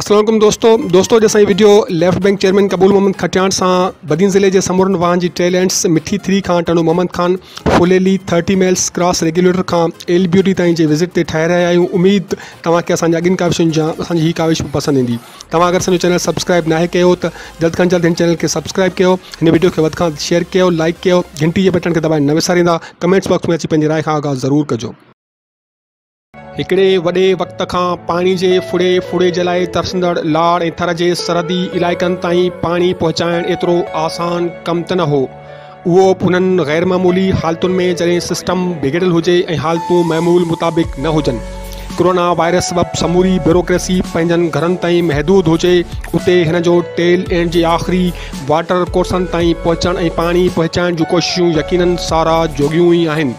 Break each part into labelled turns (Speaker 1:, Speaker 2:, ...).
Speaker 1: السلام عليڪم دوستو دوستو اڄ اسان جي video left bank chairman Qabool Muhammad Khatiyan سان بدين ضلع جي سمورن واهن جي ٽي لينس مٺي ٿري کان Tando Muhammad Khan Phuleli thirty miles cross regulator کان ايل بيوٽي تائين جي وزٽ تي ٺاهي رهيا آهيون اميد توهان کي اسان جي اڳين ڪاوشن جا اسان جي هي ڪاوش به پسند ايندي توهان اگر اسان جو چينل سبسڪرائب ناهي ڪيو ته جلد کان جلد هن چينل کي سبسڪرائب ڪيو هن وڊيو کي وڌ کان وڌ شيئر ڪيو لائڪ ڪيو گهنٽي جي بٽڻ کي دٻائڻ نه وساريندا ڪمينٽس باڪس ۾ اچي پنهنجي راء کان آگاهه ضرور ڪجو. هڪڙي وڏي وقت کان پاڻي جي ڦڙي ڦڙي جي لاء ترسندڙ لاڙ ۽ ٿر جي سرحدي علائقن تائين پاڻي پهچائڻ ايترو آسان ڪم ته نه هو. اهو انهن غير معمولي حالتن ۾ جڏهن سسٽم بگڙيل هجي ۽ حالتون معمول مطابق نه هجن، ڪرونا وائرس سبب سموري بيوروڪريسي پنهنجن گهرن تائين محدود هجي، اتي هن جو ٽيل اينڊ جي آخري واٽر ڪورسن تائين پهچڻ ۽ پاڻي پهچائڻ جون ڪوششون يقينن ساراهه جوڳيون ئي آهن.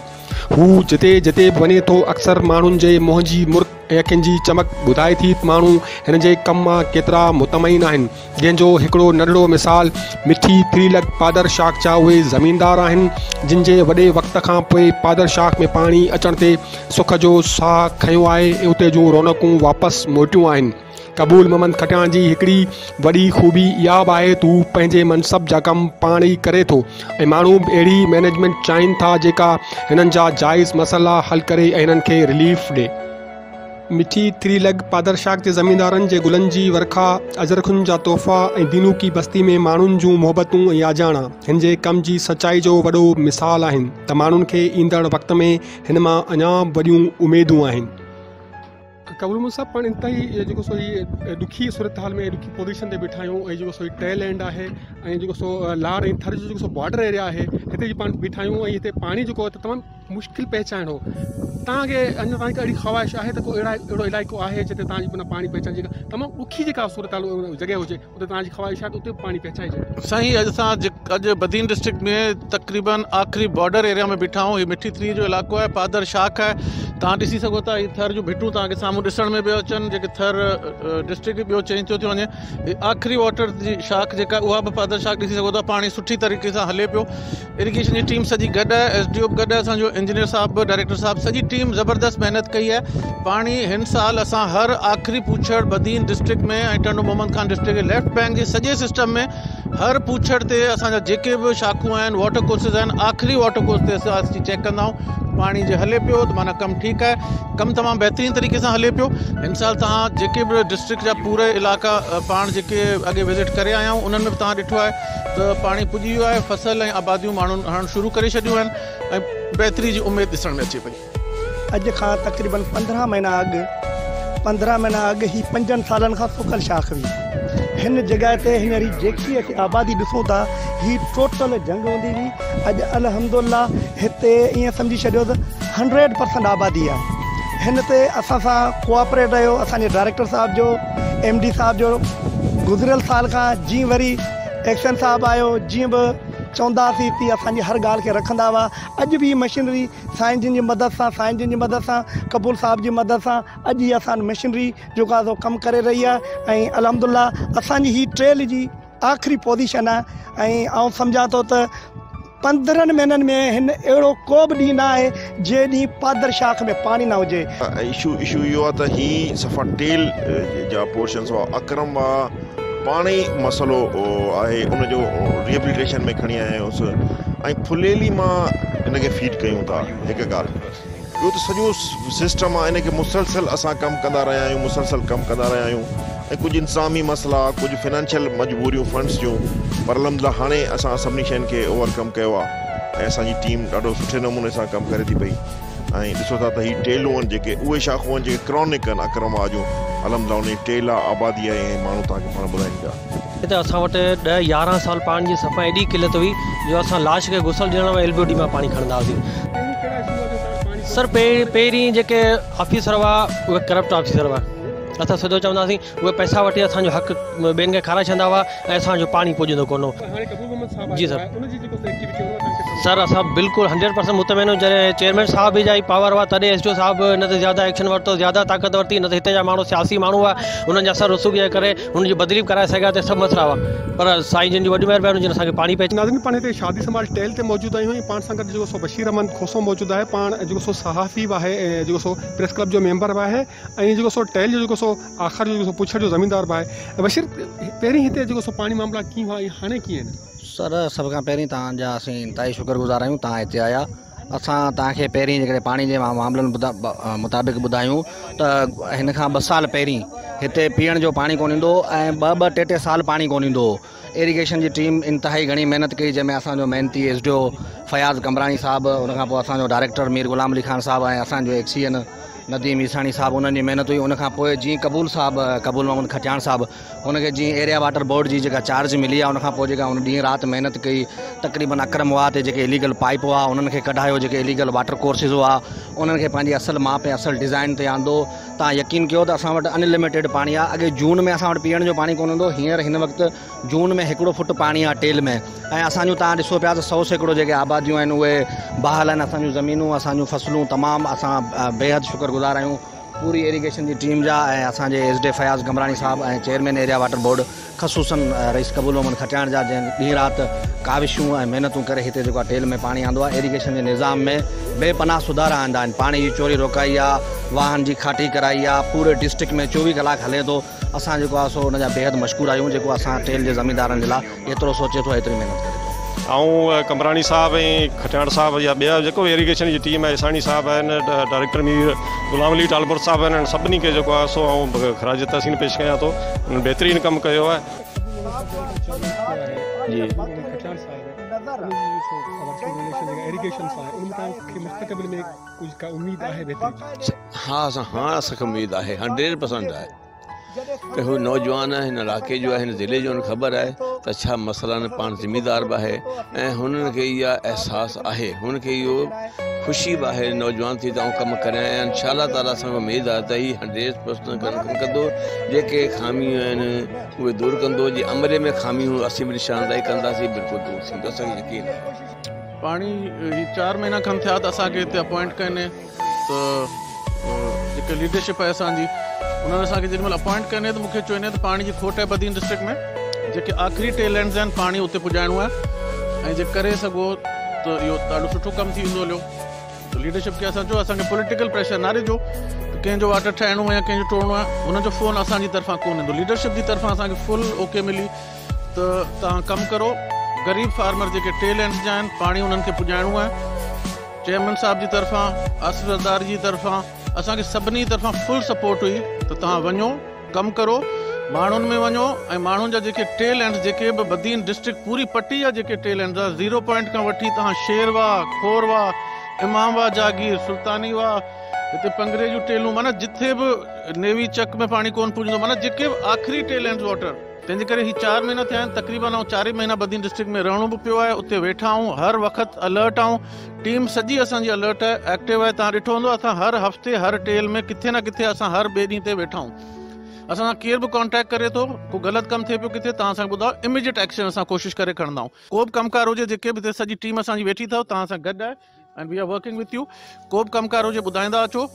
Speaker 1: هو جتي جتي به وڃي ٿو اڪثر ماڻهن جي منهن جي مرڪ ۽ اکين جي چمڪ ٻڌائي ٿي ته ماڻهو هن جي ڪم مان ڪيترا مطمئن آهن. جنهن جو هڪڙو ننڍڙو مثال مٺي ٿري لڪ پادر شاخ جا اهي زميندار آهن جن جي وڏي وقت کان پوء پادر شاخ ۾ پاڻي اچڻ تي سک جو ساهه کنيو آهي ۽ اتي جون رونقون واپس موٽيون آهن قبول محمد کٽياڻ جي هڪڙي وڏي خوبي اها به آهي ته هو پنهنجي منصب جا ڪم پاڻ ئي ڪري ٿو ۽ ماڻهو به اهڙي مئنيجمينٽ چاهين ٿا جيڪا هنن جا جائز مسئلا حل ڪري ۽ هنن کي رليف ڏي مٺي، تري لڳ، پادرشاخ جي زميندارن جي گلن جي ورکا، اجرخن جا تحفا ۽ دينوڪي بستي ۾ ماڻهن جون محبتون ۽ آجياڻا هن جي ڪم جي سچائي جو وڏو مثال آهن ته ماڻهن کي ايندڙ وقت ۾ هن مان اڃا به وڏيون اميدون آهن. قبول محمد صاحب پاڻ انتهائي جيڪو سو هي ڏکي صورتحال ۾ ڏکي پوزيشن تي بيٺا آهيون ۽ جيڪو سو هي ٽي لينڊ آهي ۽ جيڪو سو لاڙ ۽ ٿر جو جيڪو سو بارڊر ايريا آهي هتي جي پاڻ بيٺا آهيون ۽ هتي پاڻي جيڪو تمام مشڪل پهچائڻ هو توهان کي اڃا تائين اهڙي خواهش آهي ته ڪو اهڙا اهڙو علائقو آهي جتي توهان جي بنا پاڻي پهچائڻ جي تمام ڏکي جيڪا صورتحال جڳهه هجي اتي توهان جي خواهش آهي ته اتي به پاڻي پهچائجي سائين اڄ اسان
Speaker 2: اڄ بدين ڊسٽرڪٽ ۾ تقريبن آخري بارڊر ايريا ۾ بيٺا آهيون هي مٺي تري جو علائقو آهي پادر شاخ آهي توهان ڏسي سگهو ٿا هي ٿر جون ڀٽون توهان کي سامهون ڏسڻ ۾ پيو اچن جيڪي ٿر ڊسٽرڪٽ ٻيو چينج ٿيو ٿيو وڃي آخري واٽر جي شاخ جيڪا اها به پادر شاخ ڏسي سگهو ٿا پاڻي سٺي طريقي سان هلي پيو اريگيشن جي ٽيم سڄي گڏ آهي ايس ڊي او به گڏ آهي اسان جو انجنيئر صاحب به ڊائريڪٽر صاحب سڄي ٽيم زبردست محنت ڪئي آهي پاڻي هن سال اسان هر آخري پوڇڙ بدين ڊسٽرڪٽ ۾ ۽ ٽنڊو محمد خان ڊسٽرڪٽ جي ليفٽ بئنڪ جي سڄي سسٽم ۾ هر پوڇڙ تي اسان جا جيڪي به شاخون آهن واٽر ڪورسز آهن آخري واٽر ڪورس تي اسان اچي چيڪ ڪندا آهيون پاڻي جي هلي پيو ته معنيٰ ڪم ٺيڪ آهي ڪم تمام بهترين طريقي سان هلي پيو هن سال توهان جيڪي به ڊسٽرڪٽ جا پورا علائقا پاڻ جيڪي اڳي وزٽ ڪري آيا آهيون انهن ۾ به توهان ڏٺو آهي ته پاڻي پڄي ويو آهي، فصل ۽ آباديون ماڻهن هڻڻ شروع ڪري ڇڏيون آهن ۽ بهتري جي اميد ڏسڻ ۾ اچي پئي. اڄ کان
Speaker 3: تقريبن پندرهن مهينا اڳ پندرهن مهينا اڳ هي پنجن سالن کان سڪل شاخ هئي. هن جڳهه تي هينئر هي جيڪي اسين آبادي ڏسون ٿا هي ٽوٽل جهنگ هوندي هئي. اڄ الحمدالله هتي ائين سمجهي ڇڏيو ته هنڊريڊ پرسنٽ آبادي آهي. هن تي اسان سان ڪوآپريٽ رهيو اسان جي ڊائريڪٽر صاحب جو. ايم ڊي صاحب جو گذريل سال کان جي وري ايڪشن صاحب آيو جي به چوندا سي تي اسان جي هر ڳالهه کي رکندا هئا اڄ به هي مشينري سائين جن جي مدد سان سائين جن جي مدد سان قبول صاحب جي مدد سان اڄ هي اسان مشينري جو ڪا سو ڪم ڪري رهي آهي ۽ الحمدلله اسان جي هي ٽريل جي آخري پوزيشن آهي ۽ آئون سمجهان ٿو ته پندرهن مهينن ۾ هن اهڙو ڪو به ڏينهن نه آهي جنهن ڏينهن پادر شاخ ۾ پاڻي نه هجي. اشو اشو اهو آهي
Speaker 4: ته هي صفا ٽيل جا پورشنس هئا اڪرم وا پاڻ ئي مسئلو آهي ان جو ريهبليٽيشن ۾ کڻي آيا آهيونس ۽ ڦليلي مان ان کي فيڊ ڪيون ٿا هڪ ڳالهه. ٻيو ته سڄو سسٽم آ ان کي مسلسل اسان ڪم ڪندا رهيا آهيون مسلسل ڪم ڪندا رهيا آهيون ۽ ڪجهه انتظامي مسئلا ڪجهه فنانشل مجبوريون فنڊس جون پر الحمدلله هاڻي اسان سڀني شين کي اوور ڪم ڪيو آ ۽ اسان جي ٽيم ڏاڍو سٺي نموني سان ڪم ڪري ٿي پئي ۽ ڏسو ٿا ته هي ٽيلون آهن جيڪي اهي شاخون آهن جيڪي ڪرانڪ آهن اڪرم واهه جون الحمدلله ان جي ٽيل آ آبادي آهي ۽ ماڻهو توهان کي پاڻ ٻڌائين پيا. اتي اسان وٽ
Speaker 5: ڏهه يارهن سال پاڻي جي صفا ايڏي قلت هئي جو اسان لاش کي غسل ڏيڻ لاء ايل بي او ڊي مان پاڻي کڻندا هئاسين. سر پهرين جيڪي آفيسر هئا اهي ڪرپٽ آفيسر هئا اسان سڌو چوندا هئاسين اهي پئسا وٺي اسان جو حق ٻين کي کارائي ڇڏندا هئا ۽ اسان جو پاڻي پڄندو ڪونه هو. جي سر سر اسان بلڪل هنڊريڊ پرسنٽ مطمئن آهيون جڏهن چيئرمين صاحب به جا هي پاور هئا تڏهن ايس ڊي او صاحب هن تي زياده ايڪشن ورتو زياده طاقت ورتي نه ته هتي جا ماڻهو سياسي ماڻهو هئا انهن جا سر رسوخ جي ڪري هن جي بدلي به ڪرائي سگهيا ته سڀ مسئلا هئا پر سائين جن جي وڏي مهرباني جن اسان کي پاڻي پهچايو. ناظرين پاڻ هتي شادي سنڀال
Speaker 1: ٽيل تي موجود آهيون ۽ پاڻ سان گڏ جيڪو سو بشير احمد کوسو موجود آهي پاڻ جيڪو سو صحافي به آهي ۽ جيڪو سو پريس ڪلب جو ميمبر به آهي ۽ جيڪو سو ٽيل جو جيڪو سو آخر جو جيڪو سو پڇڙ جو زميندار به آهي بشير پهرين هتي جيڪو سو پاڻي معاملا ڪيئن هئا ۽ هاڻي ڪيئن آهن. سر سڀ کان
Speaker 6: پهرين توهان جا اسين انتهائي شڪر گذار آهيون توهان هتي آيا اسان توهان کي پهرين جيڪڏهن پاڻي جي معاملن مطابق ٻڌايون ته هن کان ٻه سال پهرين هتي پيئڻ جو پاڻي ڪونه ايندو هو ۽ ٻه ٻه ٽي ٽي سال پاڻي ڪونه ايندو هو ايريگيشن جي ٽيم انتهائي گهڻي محنت ڪئي جنهن ۾ اسانجو محنتي S D O Fayaz Qambrani صاحب ان کان پوء اسانجو ڊائريڪٽر مير غلام علي خان صاحب ۽ اسانجو ايڪ سي اين نديم عيساڻي صاحب انهن جي محنت هئي ان کان پوء جيئن قبول صاحب قبول محمد کٽياڻ صاحب هن کي جيئن ايريا واٽر بورڊ جي جيڪا چارج ملي آهي ان کانپوء جيڪا هن ڏينهن رات محنت ڪئي تقريبن اڪرم واهه تي جيڪي اليگل پائيپ هئا انهن کي ڪڍايو جيڪي اليگل واٽر ڪورسز هئا انهن کي پنهنجي اصل ماپ ۽ اصل ڊزائين تي آندو تان يقين ڪيو ته اسان وٽ ان لميٽيڊ پاڻي آهي اڳي جون ۾ اسان وٽ پيئڻ جو پاڻي ڪونه هوندو هينئر هن وقت جون ۾ هڪڙو فٽ پاڻي آهي ٽيل ۾ ۽ اسان جون تان ڏسو پيا ته سو سيڪڙو جيڪي آباديون آهن اهي بحال آهن اسان جون زمينون اسان جون فصلون تمام اسان بيحد شڪر گذار آهيون پوري ايريگيشن جي ٽيم جا ۽ اسان جي ايس ڊي فياض گمراڻي صاحب ۽ چيئرمين ايريا واٽر بورڊ خصوصن رئيس قبول محمد کٽياڻ جا جنهن ڏينهن رات ڪاوشون ۽ محنتون ڪري هتي جيڪو آهي ٽيل ۾ پاڻي آندو آهي ايريگيشن جي نظام ۾ بي پناهه سڌارا آندا آهن پاڻي جي چوري روڪائي آهي واهن جي کاٽي ڪرائي آهي پوري ڊسٽرڪٽ ۾ چوويهه ڪلاڪ هلي ٿو اسان جيڪو آهي سو ان جا بيحد مشڪور آهيون جيڪو اسان ٽيل جي زميندارن جي لاء ايترو سوچي ٿو ايتري محنت ڪري ٿو. آئون قمبراڻي
Speaker 7: صاحب ۽ کٽياڻ صاحب يا ٻيا جيڪو به ايريگيشن جي ٽيم آهي عيساڻي صاحب آهن ڊائريڪٽر مير غلام علي ٽالپر صاحب آهن انهن سڀني کي جيڪو آهي سو آئون خراج تحسين پيش ڪيان ٿو انهن بهترين ڪم ڪيو آهي.
Speaker 8: ها اسان هاڻ اسان کي اميد آهي هنڊريڊ پرسنٽ آهي ته هو نوجوان هن علائقي جو آهي هن ضلعي جو هن خبر آهي ته ڇا مسئلا نه پاڻ ذميدار به آهي ۽ هن کي اها احساس آهي هن کي اهو خوشي به آهي نوجوان ٿي ته آئون ڪم ڪريان ۽ ان شاء الله تعالي اسان کي اميد آهي ته هي هنڊريڊ پرسنٽ ڪم ڪندو جيڪي خاميون آهن اهي دور ڪندو جي عملي ۾ خاميون اسين به نشاندهي ڪنداسين بلڪل دور ٿيندو اسان کي يقين آهي پاڻي
Speaker 2: هي چار مهينا کن ٿيا ته اسان کي هتي اپوائنٽ ڪئي ته جيڪي ليڊرشپ آهي اسان جي انهن اسان کي جيڏي مهل اپوائنٽ ڪني ته مون کي چوندي آهي ته پاڻي جي کوٽ آهي بدين ڊسٽرڪٽ ۾ جيڪي آخري ٽي لينز آهن پاڻي اتي پڄائڻو آهي ۽ جي ڪري سگهو ته اهو ڏاڍو سٺو ڪم ٿي ويندو هليو ته ليڊرشپ کي اسان چيو اسان کي پوليٽيڪل پريشر نه ڏجو ڪنهن جو واٽر ٺاهڻو آهي يا ڪنهن جو ٽوڙڻو آهي ان جو فون اسان جي طرفان ڪونه ايندو ليڊرشپ جي طرفان اسان کي فل اوڪي ملي ته توهان ڪم ڪرو غريب فارمر جيڪي ٽي لينز جا آهن پاڻي انهن کي پڄائڻو آهي چيئرمين صاحب جي طرفان آصف زرداري جي طرفان اسان کي سڀني طرفان فل سپورٽ هئي ته توهان وڃو ڪم ڪرو ماڻهن ۾ وڃو ۽ ماڻهن جا جيڪي ٽي لينز جيڪي به بدين ڊسٽرڪٽ پوري پٽي جا جيڪي ٽي لينز آهي زيرو پوائنٽ کان وٺي توهان شير واهه کور واهه امام واهه جاگير سلطاني واهه هتي پنگري جون ٽيلون معنيٰ جٿي به نيوي چڪ ۾ پاڻي ڪون پڄندو معنيٰ جيڪي به آخري ٽي لينز واٽر تنهنجي ڪري هي چار مهينا ٿيا آهن تقريبن آئون چارئي مهينا بدين ڊسٽرڪٽ ۾ رهڻو به پيو آهي اتي ويٺا آهون هر وقت الرٽ آهون ٽيم سڄي اسان جي الرٽ آهي ايڪٽو آهي تان ڏٺو هوندو اسان هر هفتي هر ٽيل ۾ ڪٿي نه ڪٿي اسان هر ٻئي ڏينهن تي ويٺا آهون اسان سان ڪير به ڪانٽيڪٽ ڪري ٿو ڪو غلط ڪم ٿئي پيو ڪٿي تان اسان ٻڌاء اميڊيٽ ايڪشن اسان ڪوشش ڪري کڻندا آهون ڪو به ڪم ڪار هجي جيڪي به ٿئي سڄي ٽيم اسان جي ويٺي ٿو تان سان گڏ آهي and we are working with you ڪو به ڪم ڪار هجي ٻڌائيندا اچو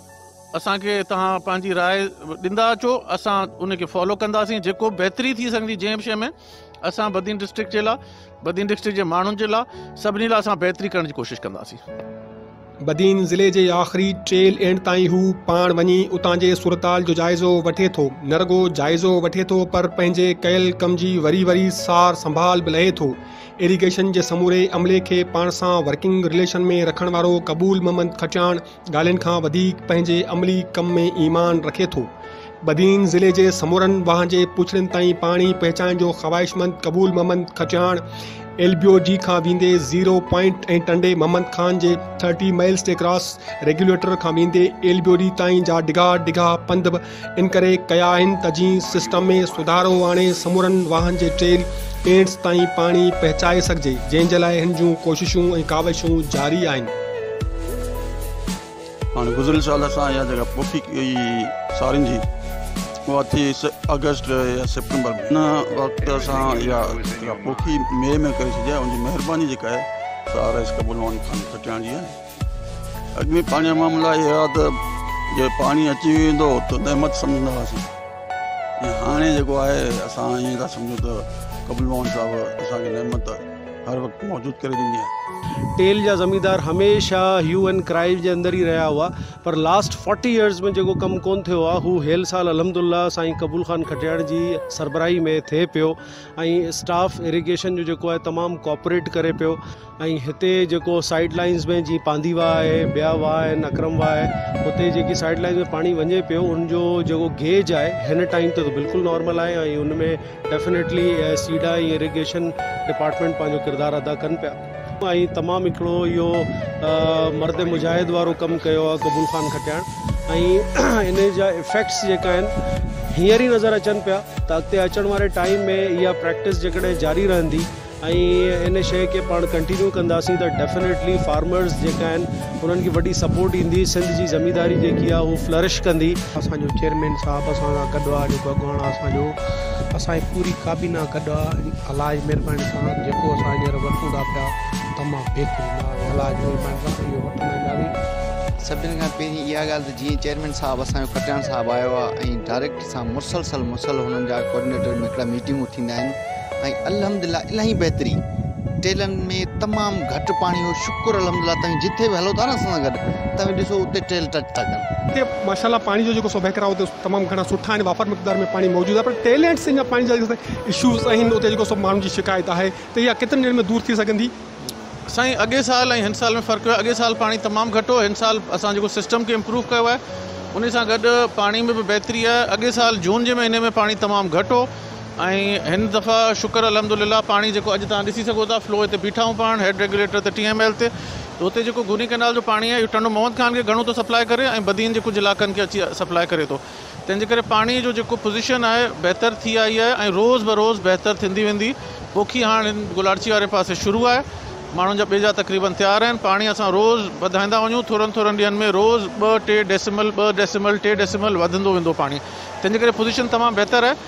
Speaker 2: اسان کي توهان پنهنجي راء ڏيندا اچو اسان ان کي فالو ڪنداسين جيڪو به بهتري ٿي سگهندي جنهن به شيء ۾ اسان بدين ڊسٽرڪٽ جي لاء بدين ڊسٽرڪٽ جي ماڻهن جي لاء سڀني لاء اسان بهتري ڪرڻ جي ڪوشش ڪنداسين بدين
Speaker 1: ضلعي جي آخري ٽيل اينڊ تائين هو پاڻ وڃي اتان جي صورتحال جو جائزو وٺي ٿو نه رڳو جائزو وٺي ٿو پر پنهنجي ڪيل ڪم جي وري وري سار سنڀال به لهي ٿو ايريگيشن جي سموري عملي کي پاڻ سان ورڪنگ رليشن ۾ رکڻ وارو قبول محمد کچاڻ ڳالهين کان وڌيڪ پنهنجي عملي ڪم ۾ ايمان رکي ٿو. بدين ضلعي جي سمورن واهن جي پڇڙين تائين پاڻي پهچائڻ جو خواهشمند قبول محمد کچاڻ ايل بي او جي کان ويندي زيرو پوائنٽ ۽ ٽنڊي محمد خان جي ٿرٽي مائلز تي ڪراس ريگيوليٽر کان ويندي ايل بي او جي تائين جا ڊگها ڊگها پنڌ به ان ڪري ڪيا آهن ته جي سسٽم ۾ سڌارو آڻي سمورن واهن جي ٽريل پينٽس تائين پاڻي پهچائي سگهجي جنهن جي لاء هن جون ڪوششون ۽ ڪاوشون جاري آهن.
Speaker 9: هاڻ گذريل سال اسان اها جڳهه پوکي ڪئي هئي سارين جي اها ٿي آگسٽ يا سيپٽمبر ۾ ان وقت اسان اها جڳهه پوکي مئي ۾ ڪري ڇڏي آهي ان جي مهرباني جيڪا آهي سا رئيس قبول مان خان کٽياڻ جي آهي. اڳ ۾ پاڻي جا معاملا اهي هئا ته جي پاڻي اچي ويندو ته نعمت سمجهندا هئاسين ۽ هاڻي جيڪو آهي اسان ائين ٿا سمجهون ته قبل موهن صاحب اسان کي نعمت هر وقت موجود ڪري ڏني آهي.
Speaker 10: ٽيل جا زميندار هميشه هيو اينڊ ڪرائي جي اندر ئي رهيا هئا پر لاسٽ فورٽي ايئرز ۾ جيڪو ڪم ڪونه ٿيو آهي هو هيل سال الحمدالله سائين قبول خان کٽياڻ جي سربراهي ۾ ٿئي پيو ۽ اسٽاف اريگيشن جو جيڪو آهي تمام ڪوپريٽ ڪري پيو ۽ هتي جيڪو سائيڊ لائنز ۾ جي پانڌي واهه آهي ٻيا واهه آهن اڪرم واهه آهي هتي جيڪي سائيڊ لائنز ۾ پاڻي وڃي پيو ان جو جيڪو گيج آهي هن ٽائيم تي بلڪل نارمل آهي ۽ ان ۾ ڊيفنيٽلي سيڊا ۽ اريگيشن ڊپارٽمينٽ پنهنجو ڪردار ادا ڪن پيا ۽ تمام هڪڙو اهو مرد مجاهد وارو ڪم ڪيو آهي قبول خان کٽياڻ ۽ ان جا افيڪٽس جيڪا آهن هينئر ئي نظر اچن پيا ته اڳتي اچڻ واري ٽائيم ۾ اها پريڪٽس جيڪڏهن جاري رهندي ۽ ان شئي کي پاڻ ڪنٽينيو ڪنداسين ته ڊيفنيٽلي فارمرز جيڪا آهن انهن کي وڏي سپورٽ ايندي سنڌ جي زمينداري جيڪي آهي هو فلرش ڪندي. اسان جو چيئرمين
Speaker 1: صاحب اسان سان گڏ آ جيڪو اڳواڻ آ اسان جو اسان جي پوري ڪابينا گڏ آ الاج مھرباني سان جيڪو اسان ھينئر وٺون ٿا پيا تمام بھترين آ الاج مھرباني سان اھو وٺندا وينداسين. سڀني کان پهرين
Speaker 11: اها ڳالهه ته جيئن چيئرمين صاحب اسان جو کٽياڻ صاحب آيو آهي ۽ ڊائريڪٽ سان مسلسل مسل هنن جا ڪوآرڊينيٽر ۾ هڪڙا ميٽنگون ٿيندا آهن ۽ الحمد لله الاهي بهتري ٽيلن ۾ تمام گهٽ پاڻي هو شڪر الحمد لله توهين جٿي به هلو ٿا نه اسان سان گڏ توهين ڏسو اتي ٽيل ٽچ ٿا ڪن. اتي ماشاء الله پاڻي جو
Speaker 1: جيڪو سو وهڪرا اتي تمام گهڻا سٺا آهن وافر مقدار ۾ پاڻي موجود آهي پر ٽيلينٽس جا پاڻي جا اشوز آهن اتي جيڪو سو ماڻهن جي شڪايت آهي ته اها ڪيترن ڏينهن ۾ دور ٿي سگهندي. سائين اڳئين
Speaker 2: سال ۽ هن سال ۾ فرق اهو آهي اڳئين سال پاڻي تمام گهٽ هو هن سال اسان جيڪو سسٽم کي امپروو ڪيو آهي انهي سان گڏ پاڻي ۾ به بهتري آهي اڳئين سال جون جي مهيني ۾ پاڻي تمام گهٽ هو ۽ هن دفعا شڪر الحمد لله پاڻي جيڪو اڄ تهان ڏسي سگهو ٿا فلو هتي بيٺا آهيون پاڻ هيڊ ريگيوليٽر تي ٽي ايم ايل تي ته هتي جيڪو گوني ڪئنال جو پاڻي آهي اهو ٽنڊو محمد خان کي گهڻو ٿو سپلاء ڪري ۽ بدين جي ڪجهه علائقن کي اچي سپلاء ڪري ٿو تنهنجي ڪري پاڻي جو جيڪو پوزيشن آهي بهتر ٿي آئي آهي ۽ روز بروز بهتر ٿيندي ويندي پوکي هاڻ هن گلاڙچي واري پاسي شروع آهي ماڻهن جا ٻيجا تقريبن تيار آهن پاڻي اسان روز وڌائيندا وڃون ٿورن ٿورن ڏينهن ۾ روز ٻه ٽي ڊيسيمل ٻه ڊيسيمل ٽي ڊيسيمل وڌندو ويندو پاڻي تنهنجي ڪري پوزيشن تمام بهتر آهي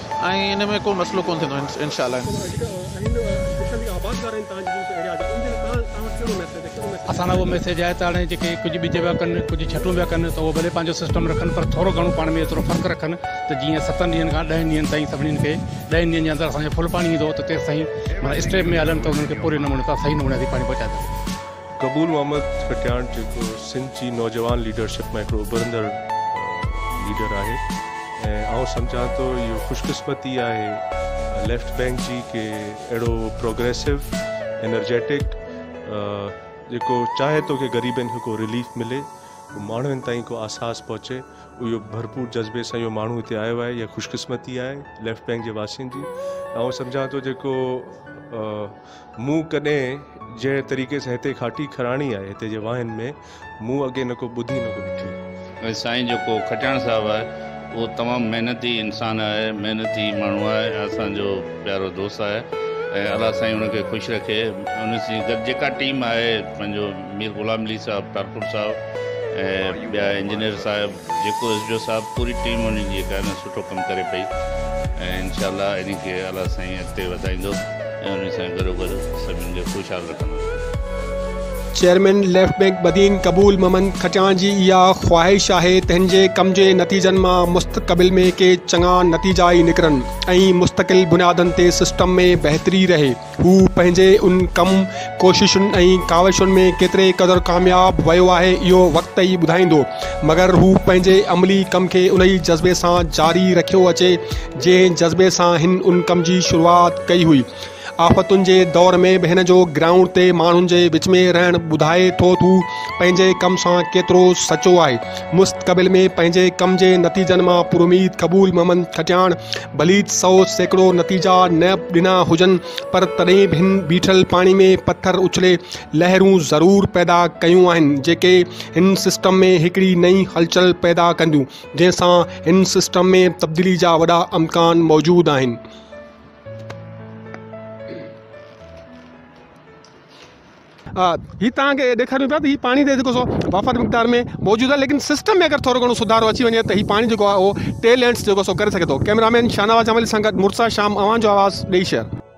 Speaker 2: ۽ ان ۾ ڪو مسئلو ڪونه ٿيندو انشاء الله.
Speaker 12: اسان لاء اهو ميسيج آهي ته هاڻي جيڪي ڪجهه ٻج پيا ڪن ڪجهه ڇٽون پيا ڪن ته اهو ڀلي پنهنجو سسٽم رکن پر ٿورو گهڻو پاڻ ۾ ايترو فرق رکن ته جيئن ستن ڏينهن کان ڏهن ڏينهن تائين سڀني کي ڏهن ڏينهن جي اندر اسان کي ڦل پاڻي ايندو ته تيسين معنيٰ اسٽيپ ۾ هلن ته انهن کي پوري نموني سان صحيح نموني سان پاڻي پهچائي سگهجي. قبول محمد
Speaker 13: کٽياڻ جيڪو سنڌ جي نوجوان ليڊرشپ مان هڪڙو اڀرندڙ ليڊر آهي ۽ آئون سمجهان ٿو اهو خوش قسمتي آهي ليفٽ بينڪ جي ڪي اهڙو پروگريسو انرجيٽڪ جيڪو چاهي ٿو ڪي غريبن کي ڪو رليف ملي ماڻهن تائين ڪو آساس پهچي اهو ڀرپور جذبي سان اهو ماڻهو هتي آيو آهي يا خوش قسمتي آهي ليفٽ بينڪ جي واسين جي آئون سمجهان ٿو جيڪو مون ڪڏهن جنهن طريقي سان هتي کاٽي کراڻي آهي هتي جي واهين ۾ مون اڳي نه ڪو ٻڌي نه ڪو ڏٺي. ۽ سائين جيڪو کٽياڻ
Speaker 14: صاحب آهي اهو تمام محنتي انسان آهي محنتي ماڻهو آهي ۽ اسان جو پيارو دوست آهي ۽ الله سائين ان کي خوش رکي ان سين گڏ جيڪا ٽيم آهي پنهنجو مير غلام علي صاحب ٽالپر صاحب ۽ ٻيا انجنيئر صاحب جيڪو ايس ڊي او صاحب پوري ٽيم انهن جي جيڪا نه سٺو ڪم ڪري پئي ۽ انشاء الله انهي کي الله سائين اڳتي وڌائيندو ۽ انهي سان گڏو گڏ سڀني کي خوشحال رکندو.
Speaker 1: Chairman left bank Badin Qabool Muhammad Kachhan جي اها خواهش آهي تنهن جي ڪم جي نتيجن مان مستقبل ۾ ڪي چڱا نتيجا ئي نڪرن ۽ مستقل بنيادن تي سسٽم ۾ بهتري رهي. هو پنهنجي ان ڪم، ڪوششن ۽ ڪاوشن ۾ ڪيتري قدر ڪامياب ويو آهي، اهو وقت ئي ٻڌائيندو، مگر هو پنهنجي عملي ڪم کي انهي جذبي سان جاري رکيو اچي، جنهن جذبي سان هن ان ڪم جي شروعات ڪئي هئي. آفتن جي دور ۾ به هن جو گرائونڊ تي ماڻهن جي وچ ۾ رهڻ ٻڌائي ٿو ته هو پنهنجي ڪم سان ڪيترو سچو آهي. مستقبل ۾ پنهنجي ڪم جي نتيجن مان پراميد قبول محمد کٽياڻ ڀليت سئو سيڪڙو نتيجا نه به ڏنا هجن پر تڏهن به هن بيٺل پاڻي ۾ پٿر اڇلي لهرون ضرور پيدا ڪيون آهن جيڪي هن سسٽم ۾ هڪڙي نئين هلچل پيدا ڪنديون جنهن سان هن سسٽم ۾ تبديلي جا وڏا امڪان موجود آهن. آ هي توهان کي ڏيکاريون پيا ته هي پاڻي ته جيڪو سو وافر مقدار ۾ موجود آهي ليڪن سسٽم ۾ اگر ٿورو گهڻو سڌارو اچي وڃي ته هي پاڻي جيڪو آهي اهو ٽي لينس جيڪو سو ڪري سگهي ٿو ڪيمرا مين شاهنواز جمالي سان گڏ مرتضيٰ شام اوهان جو آواز ڏيئي شهر.